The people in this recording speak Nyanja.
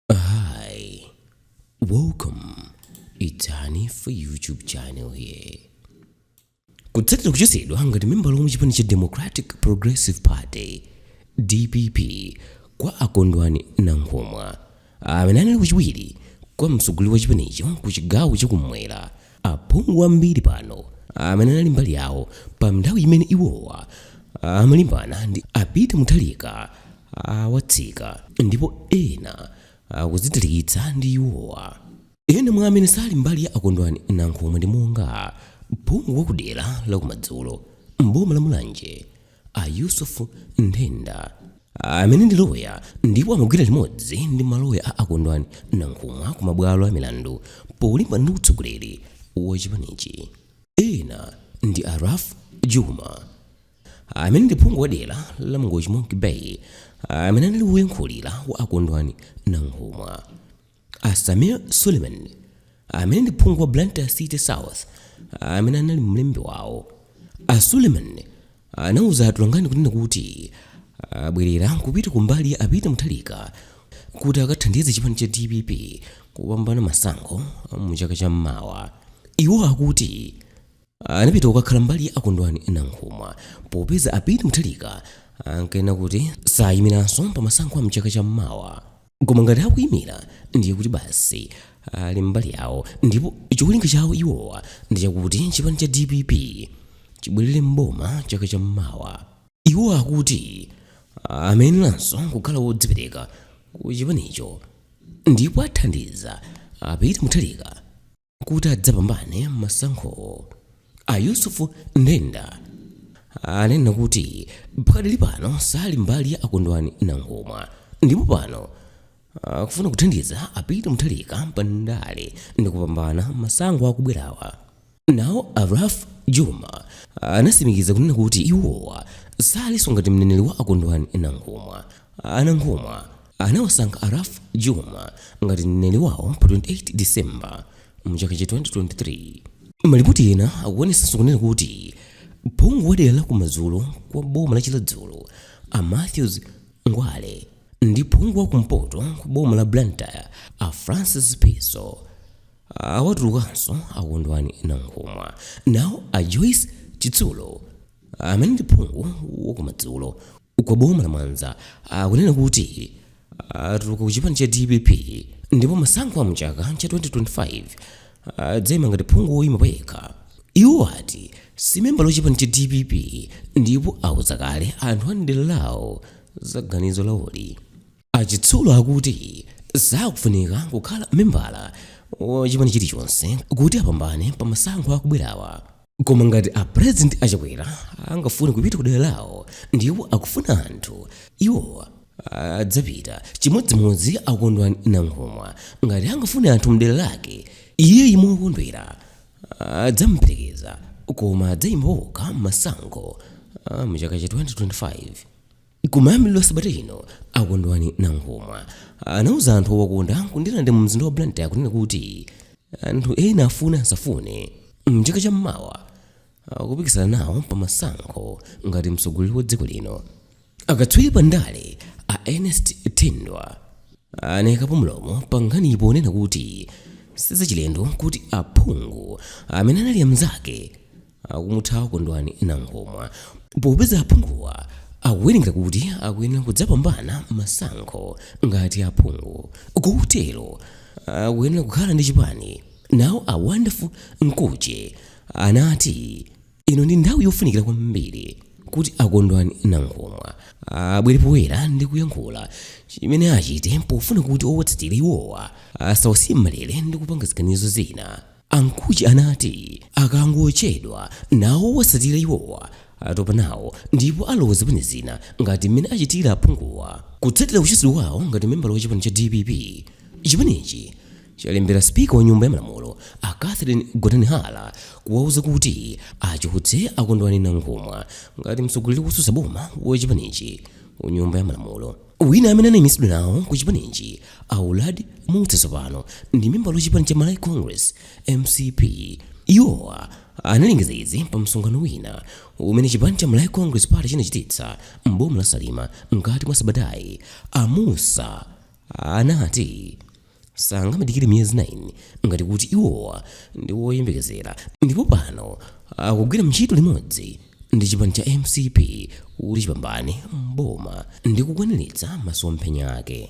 Hi, welcome. It's Hanifa YouTube channel here. Kutsatira kuchotsedwa ngati membala wa chipani cha Democratic Progressive Party DPP kwa a Kondwani Nankhumwa amene anali wachiwiri kwa mtsogoleri wa chipanicho ku chigawo chakumwera Aphungu ambiri pano amene anali mbali yawo pa nthawi imene iwowa amalimbana ndi a Peter Mutharika awatsika ndipo ena akudzitalikitsa ndi iwowa. Ena mwa amene sali mbali ya a Kondwani Nankhumwa ndi monga, phungu wa kudera la kumadzulo m'boma la Mulanje A Yusuf Nthenda amene ndi loya ndipo amagwira limodzi ndi maloya a a Kondwani Nankhumwa ku mabwalo a milandu polimbana ndi utsogoleri wa chipanichi. Ena ndi a Ralph Jooma amene ndi phungu wa dera la Mangochi Monkey Bay amene anali woyankhulira wa a Kondwani Nankhumwa. A Sameer Suleman, amene ndi phungu wa Blantyre City South, amene anali mlembi wawo. A Suleman anauza atolankhani kunena kuti abwerera kupita kumbali ya a Peter Mutharika kuti akathandize chipani cha dpp kupambana masankho mu chaka cha mmawa. Iwo akuti anapita kukakhala mbali ya a Kondwani Nankhumwa popeza a Peter Mutharika ankanena kuti sayimiranso pa masankho a mchaka cha mmawa. koma ngati akuyimira ndiye kuti basi ali mbali yawo ndipo cholinga chawo iwowa ndi chakuti chipani cha dpp chibwerere mboma chaka cha mmawa iwo akuti amayeneranso kukhala wodzipereka ku chipanicho ndipo athandiza a peter mutharika kuti adzapambane masankho a yusuf nthenda anena kuti pakadali pano sali mbali ya a kondwani nankhumwa ndipo pano akufuna kuthandiza a peter mutharika pa ndale ndi kupambana masankho akubwerawa nawo a ralph jooma anatsimikiza kunena kuti iwowa salinso ngati mneneri wa a kondwani nankhumwa a nankhumwa anawasankha a Ralph Jooma ngati mneneri wawo pa 28 December mu chaka cha 2023. Malipoti ena akuonetsanso kunena kuti phungu wa dera la kumadzulo kwa boma la Chiradzulu a Matthews Ngwale ndi phungu wa kumpoto kwa boma la Blantyre a Francis Phiso awatulukanso a Kondwani Nankhumwa. Nawo a Joyce Chitsulo amene ndi phungu wa kumadzulo kwa boma la Mwanza akunena kuti atuluka ku chipani cha dpp ndipo masankho a mchaka cha 2025 adzaima ngati phungu woyima payekha. Iwo ati si membala wa chipani cha dpp ndipo auza kale anthu a m'dera lawo za ganizo lawoli. A Chitsulo akuti sakufunika kukhala membala wa chipani chilichonse kuti apambane pa masankho akubwerawa. Koma ngati a President a Chakwera angafune kupita kudera lawo ndipo akufuna anthu, iwo adzapita. Chimodzimodzi a Kondwani Nankhumwa, ngati angafune anthu mdera lake, iyeyu mokondwera adzamuperekeza koma adzayima okha mmasankho mchaka cha 2025. Kumayambiriro a sabata ino, a Kondwani Nankhumwa anauza anthu owakonda ku Ndirande mu mzinda wa Blantyre kunena kuti anthu ena afune asafune, m'chaka cha m'mawa akupikisana nawo pa masankho ngati mtsogoleri wa dziko lino. Akatswiri pa ndale a Ernest Thindwa anaikapo mlomo pa nkhaniyi ponena kuti sizachilendo kuti aphungu amene anali amzake akumuthawa Kondwani Nankhumwa popeza aphunguwa akuwerengera kuti akuyenera kudzapambana masankho ngati aphungu kotero akuyenera kukhala ndi chipani. Nawo a Wonderful Mkhutche anati ino ndi nthawi yofunikira kwambiri kuti a Kondwani Nankhumwa abwere poyera ndi kuyankhula chimene achite pofuna kuti owatsatira iwowa asawasiye m'malere ndi kupanga ziganizo zina. A Mkhutche anati akangochedwa nawo owatsatira iwowa atopa nawo ndipo alowa zipani zina ngati mmene achitira aphunguwa. Kutsatira kuchotsedwa kwawo ngati membala wa chipani cha DPP, chipanichi chalembera speaker wa nyumba ya malamulo a Catherine Gotani Hara kuwauza kuti achotse a Kondwani Nankhumwa ngati mtsogoleri wotsutsa boma wa chipanichi ku nyumba ya malamulo. wina amene anaimitsidwa nawo ku chipanichi a uladi mussa tsopano ndi membala wa chipani cha malawi congress mcp iwowa analengeza izi pa msonkhano wina umene chipani cha malawi congress party chinachititsa m'boma la salima mkati mwa sabatayi a mussa anati sangamadikire miyezi 9 ngati kuti iwowa ndi woyembekezera ndipo pano akugwira ntchito limodzi ndi chipani cha mcp kuti chipambane mboma ndi kukwaniritsa masomphenya ake